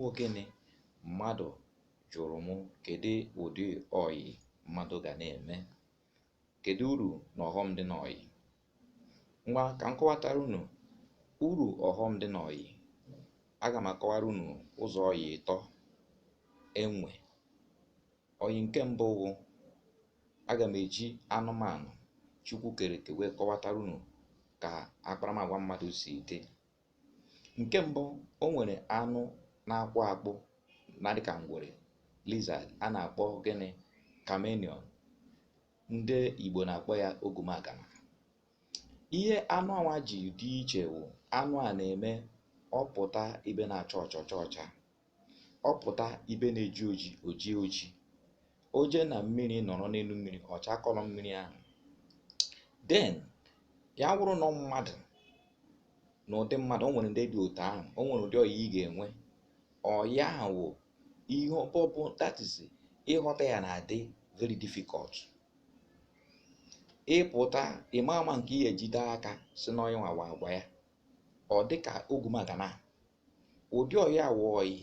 bụ gịnị mmadụ jụrụ m kedu ụdị ọyị mmadụ ga na-eme kedu uru na ọghọm dị n'ọyị ngwa ka m kọwatara unu uru ọghọm dị n'ọyị aga m akọwara unu ụzọ ọyị ịtọ e nwe ọyị nke mbụ bụ aga m eji anụmanụ chukwu kere eke wee kọwatara unu ka akparamagwa mmadụ si dị nke mbụ o nwere anụ na-akpụ akpụ na-adị ka ngwere lizard a na-akpọ gịnị chameleon ndị igbo na-akpọ ya ogumagana ihe anụ anwa ji dị iche wụ anụ a na-eme ọ pụta ibe na-acha ọcha ọ chaa ọcha ọ pụta ibe na-eji oji o jie oji o jee na mmiri nọrọ n'elu mmiri ọ chaa colour mmiri ahụ then ya wụrụ na mmadụ na ụdị mmadụ o nwere ndị dị otu ahụ o nwere ụdị ọyị ị ga-enwe ọyị ahụ wụ ihe ọbọbụ that is ịghọta ya na-adị very difficult ị pụta ịma ama nke ihe jide aka sị n'ọyị a nwa agwa ya ọ dị ka ogumagana ụdị ọyị a wụ ọyị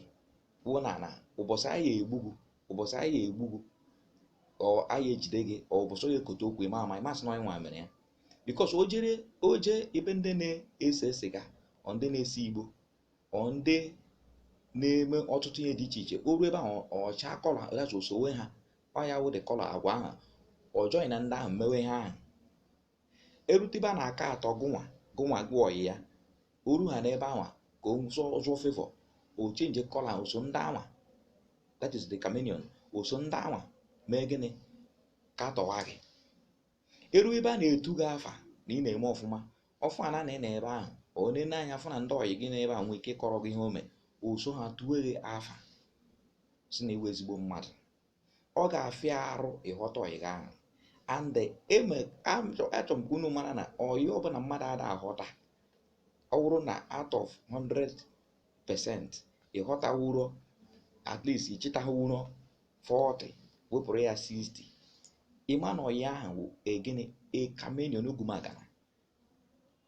wụ na na ụbọchị a ya-egbu gị ụbọchị a ya-egbu gị or a ya-ejide gị or ụbọchị onye kote okwu ịma ama ị ma-asị na onye nwa mere ya because o jere o jee ebe ndị na-ese sịga or ndị na-ese igbo or ndị na-eme ọtụtụ ihe dị iche iche o ruo ebe ahụ ọ chaa colour ya o sowe ha ọ ya wụ the colour agwa ahụ ọ joinia ndị ahụ mewe ihe ahụ e rute ebe a na-akatọ gụnwa gụnwa wụ ọyị ya o ru ha n'ebe anwa ka o zụọ favor o change colour o so ndị anwa that is the chameleon o so ndị anwa mee gịnị katọwa gị e ruo ebe a na-etu gị afa na ị na-eme ọfụma ọ fụ na ị nọ ebe ahụ o nene anya fụ na ndị ọyị gị n'ebe a nwee ike kọrọ gị ihe o mee o so ha tuwe gị afa sị na ị wụ ezigbo mmadụ ọ ga-afịa arụ ịghọta ọyị gị ahụ and em achọ- achọ m ka unu mara na ọyị ọbụla mmadụ ada aghọta ọ bụrụ na out of 100% ị ghọtawuro at least ị chịtawuro 40 wepụrụ ya 60 ịma na ọyị ahụ wụ gịnị a chameleon ogumagana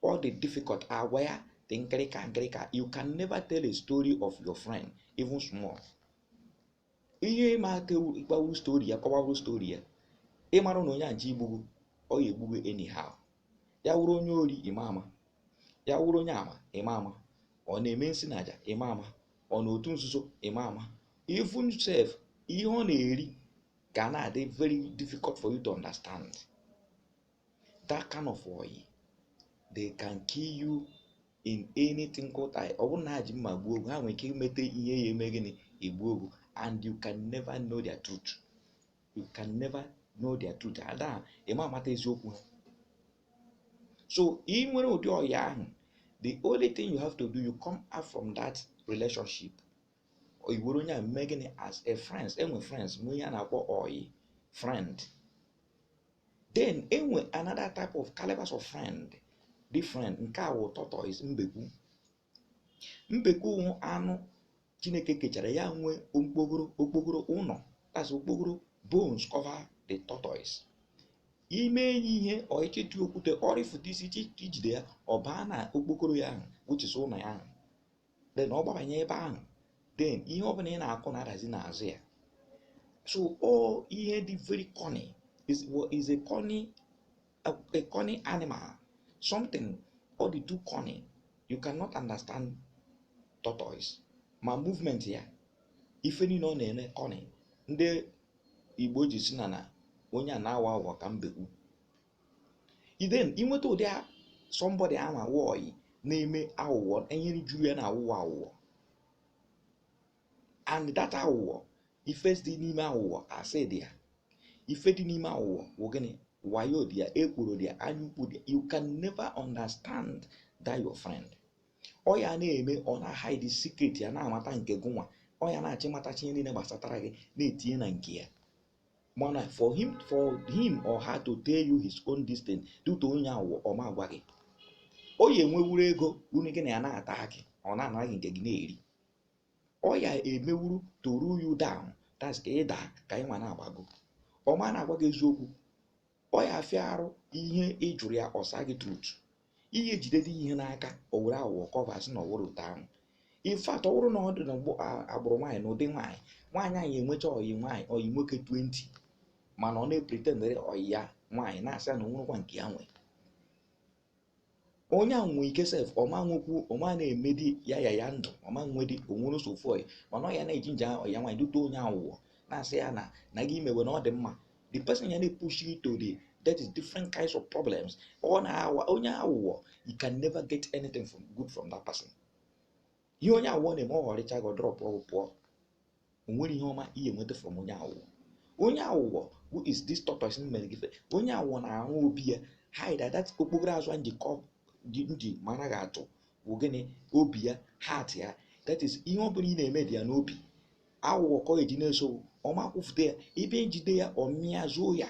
ọ dị difficult agwa ya dị nkịrịka nkịrịka you can never tell a story of your friend even small ihe ịma aka ịkpawu story ya kọwawu story ya ị mara na onye a je igbu gị ọ ya-egbu gị anyhow ya wụrụ onye ori ịma ama ya wụrụ onye ama ịma ama ọ na-eme nsị na aja ịma ama ọ nọ n'otu nzuzo ịma ama even sef ihe ọ na-eri ga na-adị very difficult for you to understand that kind of ọyị they can kill you in anything called I ọ bụrụ na ha ji mma gbuo gụ ha nwere ike imete ihe ya eme gịnị egbuo gụ and you can never know their truth you can never know their truth and ị ma amata eziokwu ha so ị nwere ụdị ọyị ahụ the only thing you have to do you come out from that relationship i were onye a mee gịnị as a friends enwe friends nwee ihe a na-akpọ ọyị friend then enwe another type of calibers of friend different nke a wụ tortoise mbekwu mbekwu wụ anụ chineke kechara ya nwe okpokoro okpokoro ụnọ that's okpokoro bones cover the tortoise ime enyi ihe ọịchịtụ okwute ọ rịfụta isi i jide ya ọ baa na okpokoro ya ahụ which is ụnọ ya ahụ then ọ gbabanye ebe ahụ then ihe ọ bụla ị na-akụ na-adazi n'azụ ya so ọ ihe dị very cunning is a cunning animal something ọ dị too cunning you cannot understand tortoise ma movement ya ife niile ọ na-eme cunning ndị igbo ji sị na na onye a na-awa awa ka mbekwu then i nweta ụdị somebody ahụ awụ ọyị na-eme awụwọ enyere juru ya na awụwọ awụwọ and that awụwọ ife dị n'ime awụwọ asị dị ya ife dị n'ime awụwọ wụ gịnị wayo dị ya ekworo dị ya anya ukwu dị ya you can never understand that your friend ọ ya na-eme ọ na-ahide secret ya na-amata nke gụnwa ọ ya na-achọ ịmatacha ihe niile gbasatara gị na-etinye na nke ya mana for him for him or her to tell you his own this thing due to onye awụwọ ọ ma agwa gị ọ ya enwewuru ego unu gị na ya na-ata akị ọ na-ana gị nke gị na-eri ọ ya emewuru to run you down that's ka ị daa ka ya nwa na-agbago ọ ma na-agwa gị eziokwu ọ ya afịa arụ ihe ị jụrụ ya ọ sa gị truth i jidede ihe n'aka o were awụwọ cover sị na ọ wụrọ otu ahụ in fact ọ bụrụ na ọ dị na agbụrụ nwaanyị na ụdị nwaanyị nwaanyị anyị enwecha ọyị nwaanyị ọyị nwoke 20 mana ọ na-epretendere ọyị ya nwaanyị na-asị ya na o nwerọkwa nke ya nwee onye ahụ nwee ike sef ọ ma nwekwu ọ ma na-emedi ya ya ya ndụ ọ ma nwedi o nwere nsogbu ọyị mana ọ ya na-eji nje ọyị ya nwaanyị due to onye awụwọ na-asị ya na na gị mewe na ọ dị mma the person ya na-epush you to the that is different kinds of problems ọ na-awa onye awụwọ you can never get anything good from that person ihe onye awụwọ na-eme ọ ghọrịcha gị dropuo gụ pụọ o nwerọ ihe ọma ị ya enweta from onye awụwọ onye awụwọ who is this tortoise mere gị onye awụwọ na-arụ obi ya hide that okpokoro azụ anyị ji nji mara gị atụ bụ gịnị obi ya heart ya that is ihe ọ bụla ị na-eme dị ya n'obi awụwọ ka o ji na-eso gụ ọ ma ekwufute ya ebe i jide ya ọ mịa zoo ya